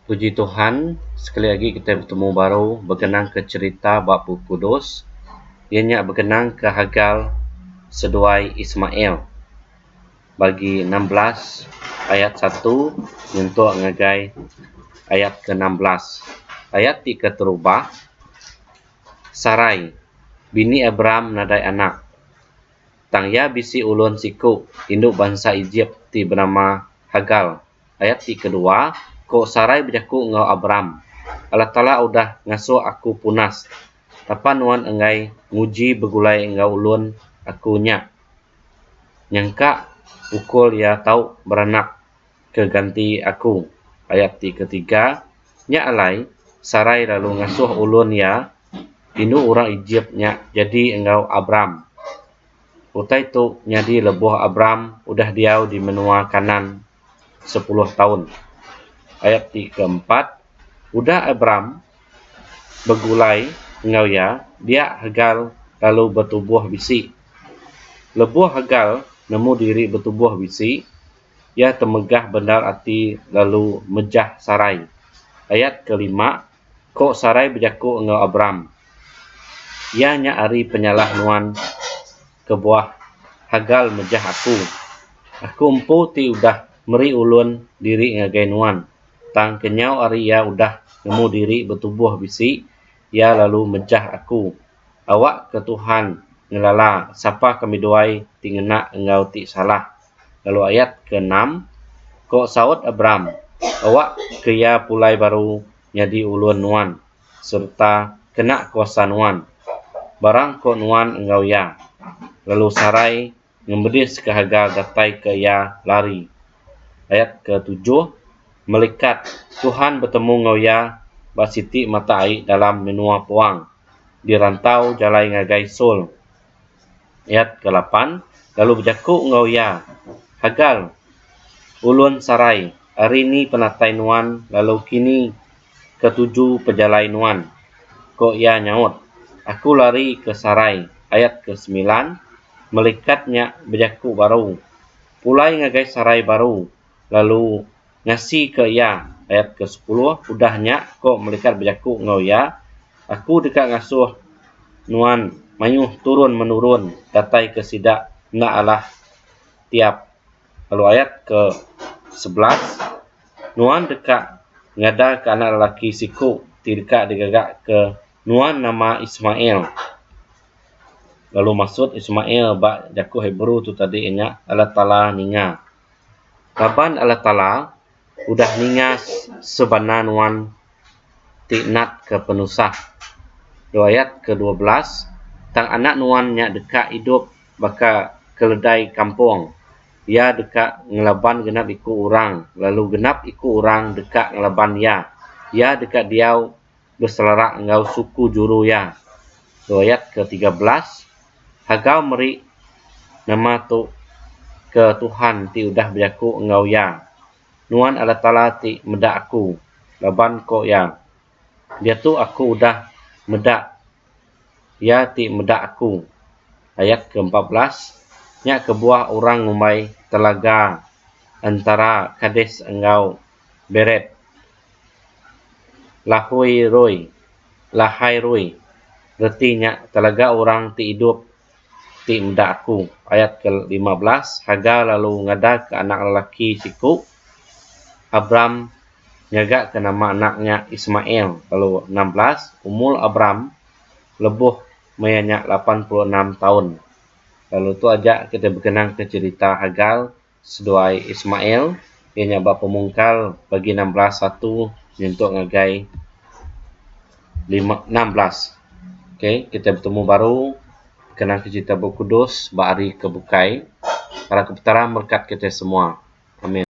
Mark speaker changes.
Speaker 1: Puji Tuhan sekali agi kitai betemu baru bekenangka cherita ba Bup Kudus iya nya bekenangka Hagar seduai Ismail bagi enam belas ayat satu nyentuk ngagai ayat ke enam belas. Ayat ti keterubah Sarai bini Abram nadai anak. Tang iya bisi ulun siku indu bansa Ejip ti benama Hagar. Ayat ti kedua, Ko Sarai bejaku enggau Abram, Allah Taala udah ngasuh aku punas, tapa nuan enggai nguji begulai enggau ulun aku nya. Nyangka pukul iya tau beranak ke ganti aku. Ayat ti ketiga, Nya alai, Sarai lalu ngasuh ulun iya, indu orang Ejip nya, jadi enggau Abram. Utai tu nyadi lebuh Abram udah diau di menua Kanaan sepuluh taun. Ayat ti keempat, Udah Abram begulai enggau iya, dia Hagar lalu betubuh bisi. Lebuh Hagar nemu diri betubuh bisi, Iya temegah bendar ati lalu mejah Sarai. Ayat ke lima, Ko Sarai bejaku enggau Abram, Iya nya ari penyalah nuan kebuah Hagar mejah aku. Aku empu ti udah meri ulun diri ngagai nuan, tang kenyau ari iya udah nemu diri betubuh bisi, iya lalu mejah aku. Awakka Tuhan ngelala sapa kami duai ti ngena enggau ti salah. lalu ayat ke enam, Ko saut Abram, Awak ke iya pulai baru nyadi ulun nuan, sereta kena kuasa nuan, barang ko nuan enggau iya. Lalu Sarai ngembediska Hagar datai ke iya lari. Ayat ke tujuh, Melikat Tuhan betemu enggau iya ba siti mata ai dalam menua puang, di rantau jalai ngagai Saul, Ayat ke lapan, Lalu bejaku enggau iya, Hagar, ulun Sarai, ari ni penatai nuan lalu kini ke tuju pejalai nuan? Ko iya nyaut, Aku lari ke Sarai. Ayat ke semilan, Melikat nya bejaku baru, Pulai ngagai Sarai baru, lalu. Ngasika iya, ayat kesepuluh, udah nya ko melikat bejaku enggau iya, Aku deka ngasuh nuan mayuh turun menurun datai ke sida enda alah tiap lalu ayat ke sebelas, nuan deka ngadaka anak lelaki siku ti deka digaga ke nuan nama Ismail lalu masut Ismail ba jaku Hebrew tu tadi nya Allah Taala ninga. Raban Allah Taala udah ninga sebana nuan ti natka penusah. Dua ayat ke dua belas Tang anak nuan nya deka idup baka keledai kampung, iya deka ngelaban genap iku orang, lalu genap iku orang deka ngelaban iya. Iya deka diau beselara enggau suku juru iya. Riwayat ke tiga belas, Hagau meri nama tu ke Tuhan ti udah bejaku enggau iya, Nuan Allataala ti meda aku, laban ko iya, Diatu aku udah meda Iya ti meda aku. Ayat ke empat belas, Nya kebuah orang ngumbai telaga entara Kades enggau. beret, lahui rui, lahai rui, reti nya telaga orang ti idup ti meda aku, ayat ke lima belas, Hagar lalu ngadaka anak lelaki siku, Abram ngagaka nama anak nya Ismael, lalu enam belas, umur Abram lebuh maya nya lapan puluh enam taun, lalu tu aja kitai bekenangka cherita Hagar. seduai Ismail, iya nya ba pemungkal pagi enam belas satu nyentuk ngagai lima enam belas. Ok, kitai betemu baru kena ke cerita Bup Kudus ba hari ke bukai. Harap ke Petara merkat kitai semua. Amin.